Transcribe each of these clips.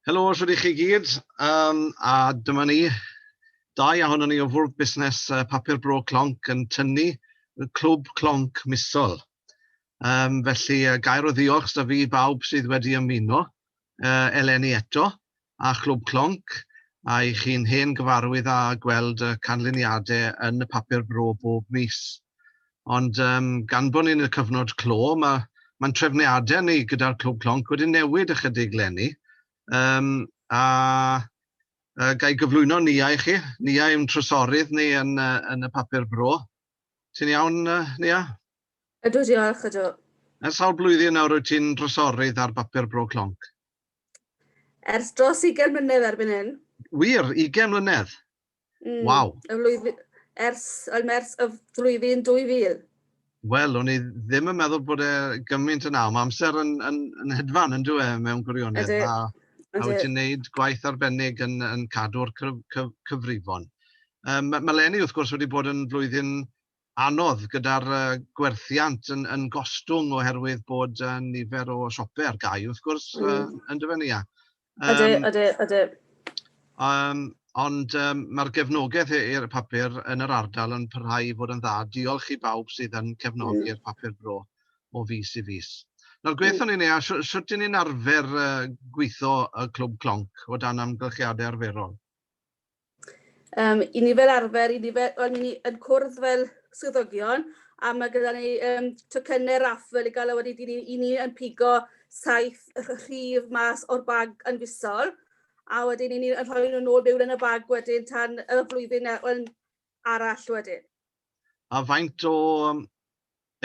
Helo, shwt i chi gyd, um, a dyma ni. Dau ahono ni o fwrdd busnes uh, Papur Bro Clonc yn tynnu y clwb Clonc misol. Um, felly, uh, gair o ddiolch da fi bawb sydd wedi ymuno. uh, eleni eto, a Chlwb Clonc, a i chi'n hen gyfarwydd â gweld y canlyniadau yn y papur bro bob mis. Ond um, gan bod ni'n y cyfnod clo, mae mae'n trefniadau ni gyda'r Clwb Clonc wedi newid ychydig lenni. Um, a uh, gai gyflwyno Nia i chi. Nia yw'n trysorydd ni yn, uh, yn y papur bro. Ti'n iawn, uh, Nia? Ydw, diolch, ydw. Ers sawl blwyddyn nawr wyt ti'n drysorydd ar bapur Bro Clonc? Ers dros ugain mlynedd erbyn hyn. Wir? Ugain mlynedd? Mm. Waw. Y flwyddyn... Ers... Oedd mers y flwyddyn 2000. Wel, o'n i ddim yn meddwl bod e gymaint yna. Mae amser yn, yn, yn hedfan yn dweud mewn gwirionedd. Ydy. A, a wyt ti'n gwneud gwaith arbennig yn, yn cadw'r cyf, cyf, cyfrifon. Um, mae Lenny, wrth gwrs, wedi bod yn flwyddyn anodd gyda'r gwerthiant yn gostwng oherwydd bod nifer o siope ar gau wrth gwrs yndyfe Nia? Ydy, ydy, ydy. Ond mae'r gefnogaeth i'r papur yn yr ardal yn parhau i fod yn dda. Diolch i bawb sydd yn cefnogi'r papur bro o fis i fis. Nawr gweithio ni Nia, sut dyn ni'n arfer gweithio y Clwb Clonc o dan amgylchiadau arferol? Um, I ni fel arfer, i ni fel, well, ni yn cwrdd fel swyddogion, a mae gyda ni um, tocynnau raffel i gael a wedi ni, i ni yn pigo saith rhif mas o'r bag yn fusol, a wedyn i ni yn rhoi nhw'n ôl mewn yn y bag wedyn tan y flwyddyn e, well, arall wedyn. A faint o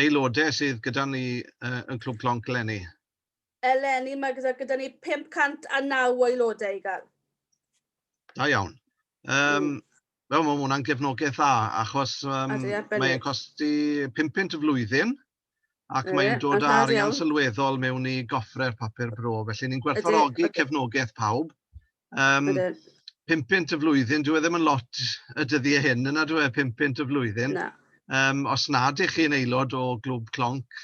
aelodau sydd gyda ni uh, yn Clwb Clonc eleni? Eleni mae gyda gyda ni 509 o aelodau i gael. Da iawn. Um, mm. Wel, mae hwnna'n gefnogaeth dda, achos um, mae'n costi 5 pint y flwyddyn, ac e, mae'n dod â arian iawn. sylweddol mewn i goffre'r papur bro. Felly, ni'n gwerthfawrogi cefnogaeth pawb. Um, Ydy. 5 pint y flwyddyn, dwi e ddim yn lot y dyddiau hyn, yna dwi e, 5 pint y flwyddyn. Na. Um, os nad ych chi'n aelod o glwb clonc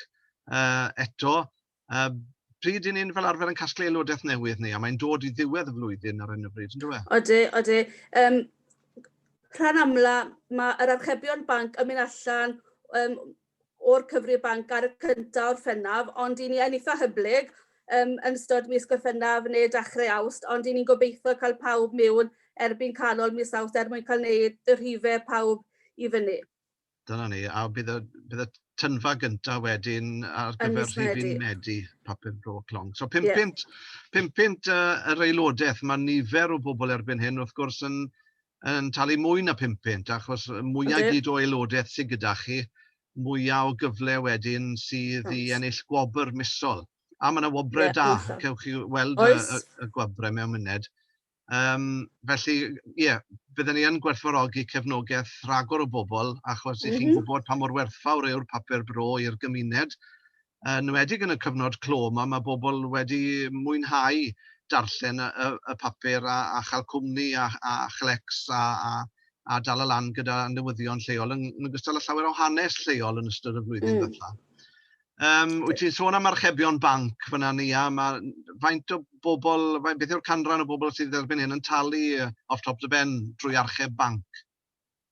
uh, eto, Yym, pryd 'y ni'n fel arfer yn casglu aelodaeth newydd ni, a mae'n dod i ddiwedd y flwyddyn ar 'yn o bryd, yndyw e? Odi, odi. Yym, rhan amla, mae yr archebion banc yn mynd allan um, o'r cyfri banc ar y cyntaf o'r ffennaf, ond i ni yn eitha hyblyg um, yn ystod mis Gorffennaf neu dechrau awst, ond i ni'n gobeithio cael pawb mewn erbyn canol mis awst er mwyn cael gwneud y rhifau pawb i fyny. Dyna ni, a bydd y bydd y tynfa gynta wedyn ar gyfer... yn mis Medi. ...rhifyn Medi, papur bro clon. So 500... ie. ...500 yy yr aelodaeth, ma' nifer o bobl erbyn hyn wrth gwrs yn yn talu mwy na 500 achos y mwya... yndy. ...gyd o aelodaeth sy gyda chi, mwya o gyfle wedyn sydd i ennill gwobr misol. A ma' 'na wobre da, cewch chi weld y y y gwobre mewn muned. Yym felly ie bydden ni yn gwerthfawrogi cefnogaeth rhagor o bobl achos... m-hm. ...'y chi'n gwybod pa mor werthfawr yw'r papur bro i'r gymuned, yn enwedig yn y cyfnod clo 'ma, mae pobl wedi mwynhau darllen y y y papur a a chael cwmni a a chlecs a a a dal y lan gyda newyddion lleol yn yn ogystal â llawer o hanes lleol yn ystod y flwyddyn... mm. ...ddwytha. Um, wyt ti'n sôn am archebion banc fyna ni, a mae faint o bobl, faint, beth yw'r canran o bobl sydd erbyn hyn yn talu off top the ben drwy archeb banc?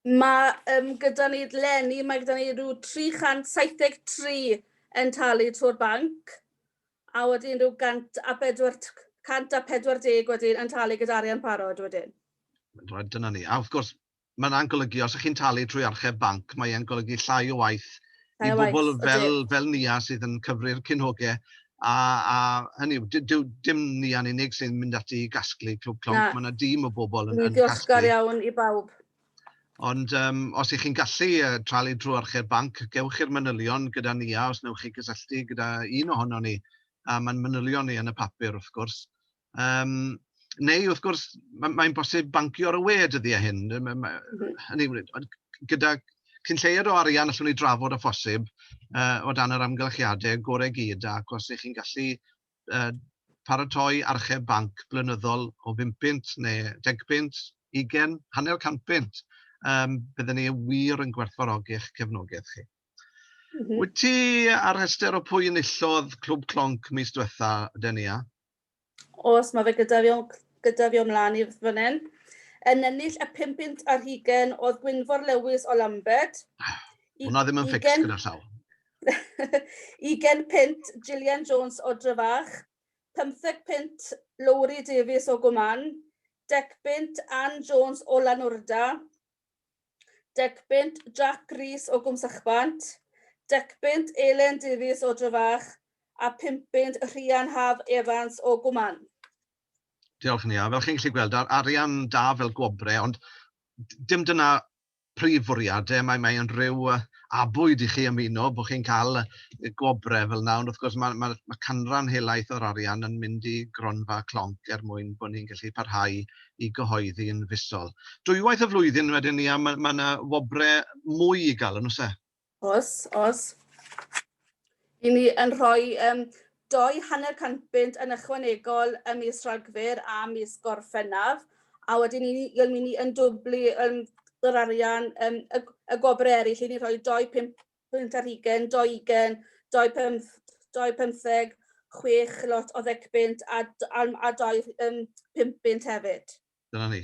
Mae um, gyda ni lenni, mae gyda ni rhyw 373 yn talu trwy'r banc, a wedyn rhyw 140 wedyn yn talu gyda arian parod wedyn. Right, dyna ni. A wrth gwrs, Mae hwnna'n golygu, os ych chi'n talu trwy archeb banc, mae e'n golygu llai o waith i bobl fel Nia sydd yn cyfri'r cyn-hogau, a hynny yw, dyw dim Nia'n unig sy'n mynd ati i gasglu Clwb Clonc, mae yna dîm o bobl yn casglu. Dwi'n ddiolchgar iawn i bawb. Ond os ych chi'n gallu talu drwy archeb banc, gewch chi'r manylion gyda Nia os wnewch chi gysylltu gyda un ohonon ni, a mae'n manylion ni yn y papur wrth gwrs, Yym neu wrth gwrs ma' mae'n bosib bancio ar y we dyddiau hyn, ma' ma' hynny yw gyda cyn lleied o arian allwn ni drafod â phosib yy o dan yr amgylchiadau gorau i gyd ac os 'y chi'n gallu yy paratoi archeb banc blynyddol o bum punt neu deg punt, ugain, hanner cant punt yym bydden ni wir yn gwerthfawrogi eich cefnogaeth chi. Wyt ti ar rhestr o pwy enillodd Clwb Clonc mis diwetha', Denia? os mae fe gyda fi, gyda fi o mlaen i fan hyn, yn ennill y 5 bunt ar hugen oedd Gwynfor Lewis o Lambed. Hwna ddim yn ffix gyda llaw. ugen punt Gillian Jones o Dryfach, 15 punt Lowri Davies o Gwman, dec punt Ann Jones o Lanwrda, Decpunt Jac Rees o Gwmsachbant, Decpunt Elen Davies o Drefach a Pumpunt Rhian Haf Evans o Gwmann. Diolch yn Fel chi'n gallu gweld, ar arian da fel gwobrau, ond dim dyna prif fwriad e. Mae, mae yn rhyw abwyd i chi ymuno bod chi'n cael gwobrau fel yna, ond wrth gwrs mae, mae, mae canran helaeth o'r arian yn mynd i gronfa clonc er mwyn bod ni'n gallu parhau i gyhoeddi yn fisol. Dwywaith y flwyddyn wedyn ni, a mae yna wobrau mwy i gael, yn oes e? Oes, oes. I ni yn rhoi um, doi hanner cant bunt yn ychwanegol ym mis Rhagfyr a mis Gorffennaf, a wedyn ni, yn mynd i yn dwblu um, yr arian, um, y, y gwobrau eraill, i ni rhoi doi pump pwynt ar hugen, dou ugen, dou pump, dou pymtheg, chwech lot o ddecpunt a, a, a dou um, pump bunt hefyd. Dyna ni.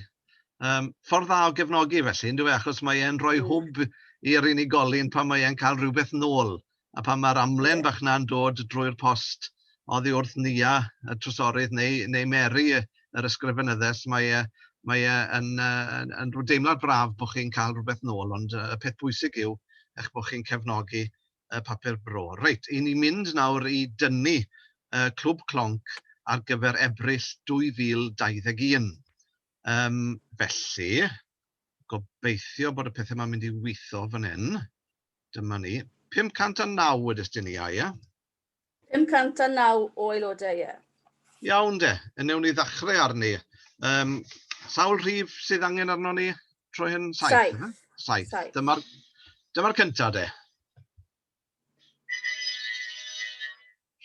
Um, ffordd dda o gefnogi felly, ynddo fe, achos mae e'n rhoi mm. hwb i'r unigolyn pan mae e'n cael rhywbeth nôl a pan mae'r amlen yeah. bach na'n dod drwy'r post oddi wrth Nia, y trysorydd, neu neu Mary, yr ysgrifenyddes, mae e mae e yn yn yn rhyw deimlad braf bod chi'n cael rhywbeth nôl, ond y peth bwysig yw eich bod chi'n cefnogi y papur bro. Reit, i ni mynd nawr i dynnu y Clwb Clonc ar gyfer Ebrill 2021. Um, felly, gobeithio bod y pethau yma'n mynd i weithio fan hyn. Dyma ni. 509 wedys ti ni, a ie? 509 o aelodau, ie. Iawn de, newn ni ddechrau arni. Um, sawl rhif sydd angen arno ni troi hyn? Saith. Saith. Saith. Saith. Dyma'r dyma cyntaf de.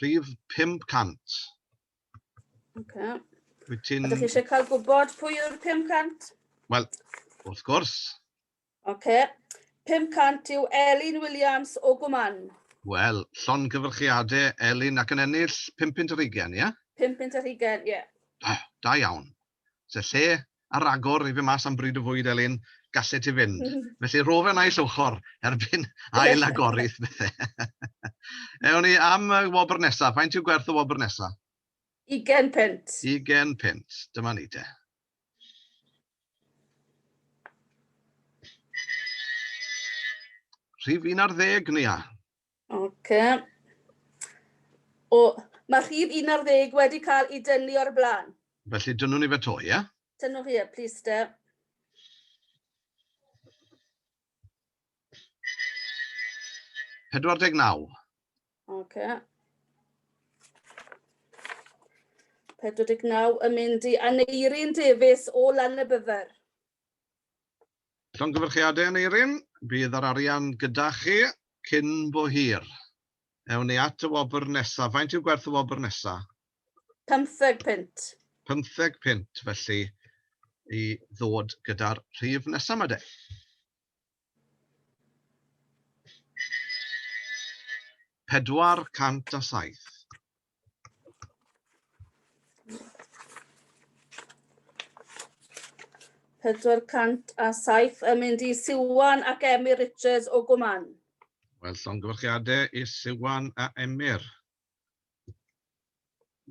Rhif 500. Okay. Wyt ti'n... Ydych chi eisiau cael gwybod pwy yw'r 500? Wel, wrth gwrs. Oce. 500 yw Elin Williams o Gwmann. Wel, llongyfarchiade Elin ac yn ennill pum punt ar hugain, ie? Pum punt ar hugain, ie. Da, da iawn. Se lle a ragor i fyn mas am bryd o fwyd Elin, gallet ti fynd. Felly ro fe naill ochor erbyn ail agorith bethe. Ewn ni am y wobr nesa. Faint yw gwerth y wobr nesa? Ugain punt. Ugain punt. Dyma ni te. Rhif 11, Nia. Ok. O, mae rhif 11 wedi cael ei dynnu o'r blaen. Felly dynnu ni fe to, ie? Yeah? Dynnu chi, e, please, de. Pedwar deg naw. Oce. 49 yn mynd i Aneirin Davies o Lanybydder. Llongyfarchiadau Aneirin, bydd yr arian gyda chi cyn bo hir. Ewn ni at y wobr nesaf. Faint yw gwerth y wobr nesaf? 15 punt. 15 punt, felly i ddod gyda'r rhif nesaf yma de. Pedwar cant a saith. Pedwar cant a saith yn mynd i Siwan ac Emyr Richards o Gwman. Wel, llongyfarchiadau i Siwan a Emyr.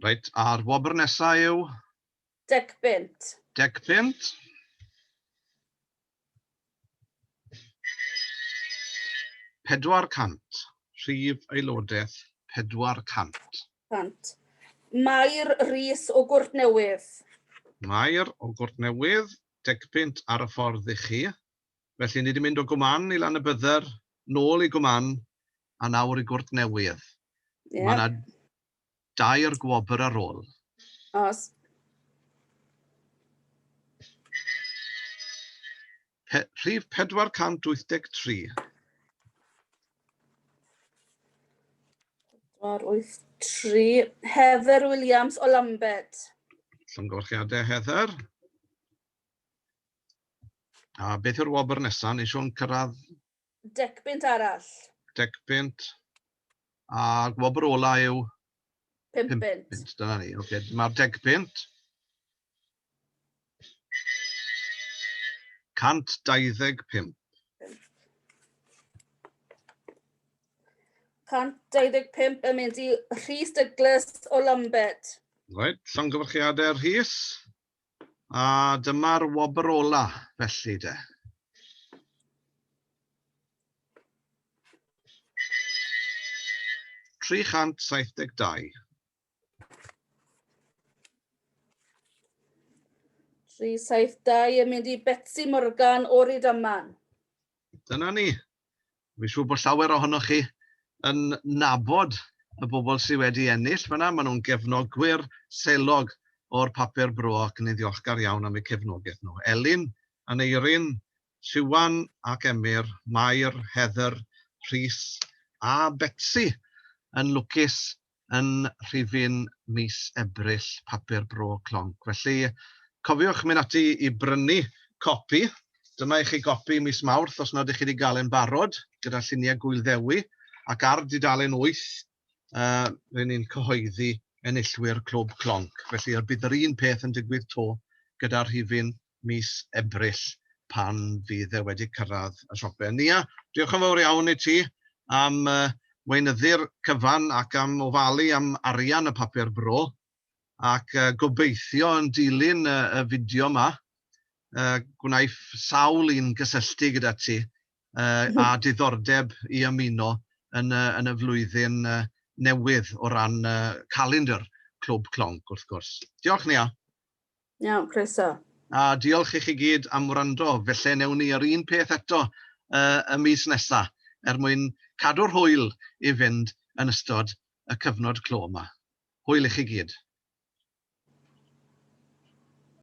Reit, a'r wobr nesaf yw? Decpunt. Decpunt. Pedwar cant. Rhif aelodaeth pedwar cant. Cant. Mair Rees o Gwrtnewydd. Mair o Gwrtnewydd, decpunt ar y ffordd i chi. Felly ni wedi mynd o Gwman i Lanybydder, nôl i Gwman, a nawr i Gwrtnewydd. Ie. Mae 'na dair gwobr ar ôl. Os. Pe rhif 483. 483. Heather Williams o Lambed. Llongyfarchiadau, Heather. A beth yw'r wobr nesaf? Nes o'n cyrraedd Dec punt arall. Dec punt. A gwobr ola yw? Pum punt. Pum punt, dyna ni. Ok, dyma'r dec punt. 125. 125 yn mynd i Rhys Douglas o Lambed. Right, llongyfarchiadau Rhys. A dyma'r wobr ola, felly, de. Tri chant saith deg dau. Tri saith dau yn mynd i Betsi Morgan o'r Rydaman. Dyna ni. Fi'n siŵr bod llawer ohonoch chi yn nabod y bobl sydd wedi ennill fan'na, maen nhw'n gefnogwyr selog o'r Papur Bro ac ni'n ddiolchgar iawn am eu cefnogaeth nhw. Elin, Aneurin, Siwan ac Emyr, Mair, Heather, Rhys a Betsi yn lwcus yn rhifyn mis Ebrill Papur Bro Clonc. Felly, cofiwch mynd ati i brynu copi. Dyma i chi gopi mis Mawrth os nad ych chi wedi gael e'n barod, gyda lluniau Gŵyl Ddewi, ac ar dudalen 8 uh, rydyn ni'n cyhoeddi enillwyr Clwb Clonc. Felly, bydd yr un peth yn digwydd to gyda rhifyn mis Ebrill pan fydd e wedi cyrraedd y siope. Nia, diolch yn fawr iawn i ti am weinyddu'r cyfan ac am ofalu am arian y papur bro, ac gobeithio yn dilyn y fideo yma y gwnaiff sawl un gysylltu gyda ti â diddordeb i ymuno yn y yn y flwyddyn newydd o ran calendr Clwb Clonc wrth gwrs. Diolch Nia. Iawn, croeso. A diolch i chi gyd am wrando. Felly newn ni yr un peth eto yy y mis nesa, er mwyn cadw'r hwyl i fynd yn ystod y cyfnod clo 'ma. Hwyl i chi gyd.